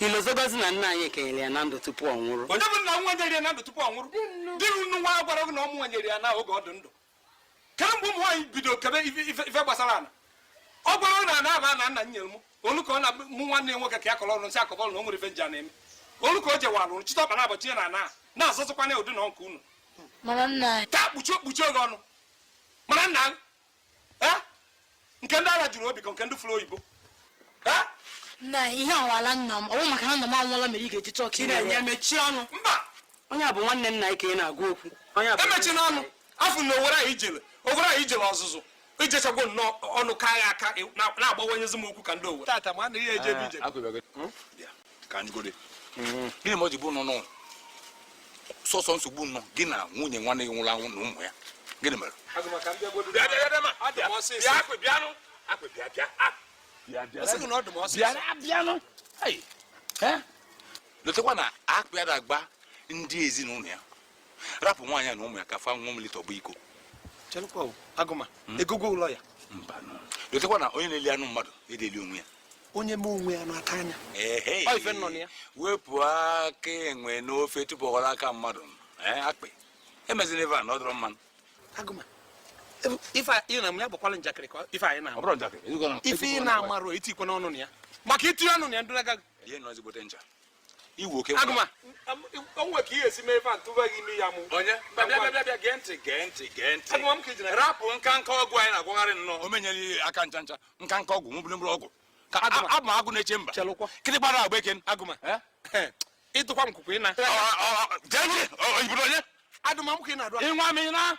i lozogozi na nna anyị kenyere ya na ndụ tupu ọ nwụrụ onye bụ nna nwa nyere ya na ndụ tupu ọ nwụrụ di unu nwa gwara gị na ọ mụ nyere ya na oge ọ dị ndụ kee mgbe ụmụ nwaanyị bido kebe ife gbasara ala ọ gwara na ana a bụ ana nna nyere m olu ka ọ na mụ nwanne nwoke ka ya kọrọ ọrụ nsị akọbọlụ na o nwere ife m ji ana eme olu ka o jewa alụrụ chịta ọkpa na abọchi ya na ana na-azọzụkwana ụdị na nke unu taa kpuchie okpuchi oge ọnụ mara nna eh? nke ndị ara juru obi ka nke ndị fụrụ oyibo eh? na ihe awala nna m ọ wụ maka na nna m anwụọla mere ị ga-eji chọọ ka ị na-enye mechie ọnụ mba onye a bụ nwanne nna anyị ka ị na-agwa okwu emechina ọnụ afọ na owere anyị jere owere i jere ọzụzụ i jechagwo nnọọ ọnụ ka agha aka na-agbawanyezi m okwu ka ndị owere ka anyị gode mm-hmm. gịnị mere o ji bụ nnọọ sọsọ nsogbu nnọọ gị na nwunye nwanne gị nwụrụ anwụ na ụmụ ya gịnị mere lotekwa na akpị ada agba ndị ezinụlọ ya rapụ nwaanyị a na ụmụ ya ka fa ṅụọ mmiri tọgbọ iko hmm? lotekwa na onye na-eli anụ mmadụ ada eli onwe ya onye mee onwe ya n'aka anya wepụ aka enwe n'ofe tupu ọ ghọrọ aka mmadụ akpị emezina ife a na ọ dịrọ mma nụ ife ị na ya gbakwala njakịrị ka ife anyị na-ama ife ị na-amarọ etikwana ọnụ na ya maka itinye ọnụ na ya ndụrụ agaghị ị wụ eke agụma o nwe ka ị ya esi mee ife m tụba gị ime ya mụ onye bịa gee ntị gee ntị gee ntị agụma m ka ijina rapụ nkanka ọgwụ anyị na-agwọgharị nnọọ ọ ma nyere gị aka ncha ncha nkanka ọgwụ mụbụrụ mụrụ ọgwụ ka abụ m agụ na-eche mba kịrị gbara agba eke agụma ị dụkwa m kwukwe ịna onye agụma ka ị na-adụ ị nwaa m ị naa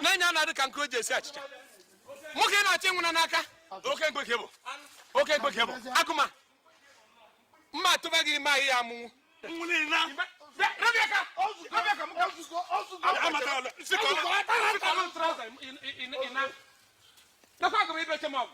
nee onye a na-adị ka nke e ji esi achịcha nwoke na-achọ ịnwụ n'aka oke mkpeke bụ oke mkpeke bụ agụma mma atụba gị ime ị ya amụnwu Nakwa agụrụ ibe chem ọgwụ.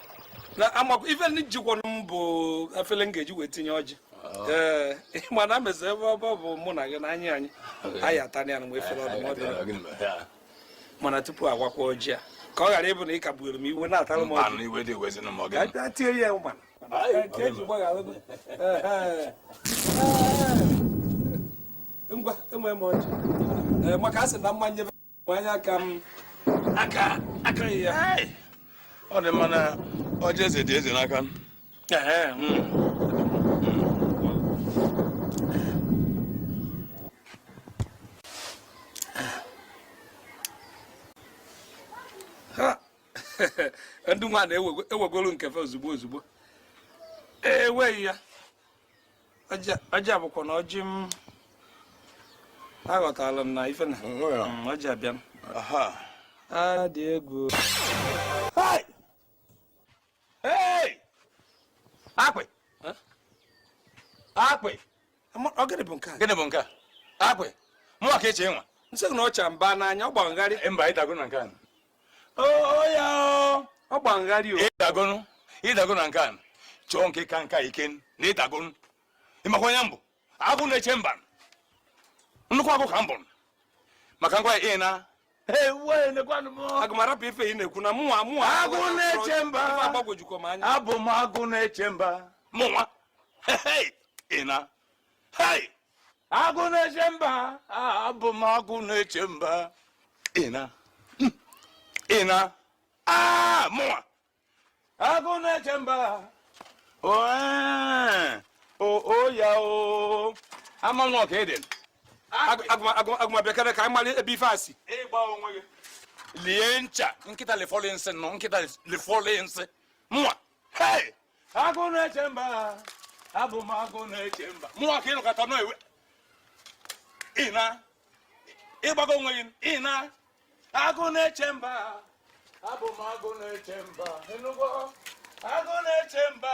na amakwa ife na-ejikwanụ m bụ afele m ga-eji wee tinye ọjị oh. ee mana mezi ebe ọ bụ mụ na gị na anyị anyị anyị atana ya na efere ọdụ mana tupu awakwa ọjị a ka ọ ghara ịbụ na ị ka buru m iwe na-atara m ọjị iwe dị wezi na mọgị ka tie ya ụma ngwa enwe m ọjị maka a sị na mmanya anya ka m aka aka ya ọ dị mma na ọjị eze dị eze n'aka ndị nwa na-ewegolu nke fe ozugbo ozugbo enweghị ya ọjị a bụkwanụ ọjị m aghọtala m na ife na mm, ọjị abịa m a dị egwu akpị akpị gịnị bụ nke a gịnị bụ nke a akpị mụwa ka eche nwa nsị na ọcha mba n'anya ọ gbagharị mba ịdago na nke a ọ gbagharị o ịdagonu ịdagonu nke a chọọ nke ka nke a ike na ịdagonu ịmakwa onye m bụ agụ na-eche mba nnukwu agụ ka m bụ maka ngwa ịna agụma rapụ ife ị na-ekwu na mụnwa mụnwa agụ na-eche mba agbagwojukọ m anya abụ m agụ na-eche mba mụnwa ịna agụ na-eche mba abụ m agụ na-eche mba ịna ịna mụnwa agụ na-eche mba oya o amanụ ka ị dị agụma bịakene ka anyị mara ebe ife a si lie ncha nkịta lifọlụ nsị nọ nkịta lifọlụ nsị mụnwa agụ na-eche mba abụ m agụ na-eche mba mụnwa ka ịlụkọta nọ iwe ịna ịgbago onwe gị ịna agụ na-eche mba abụ m agụ na-eche mba agụ na-eche mba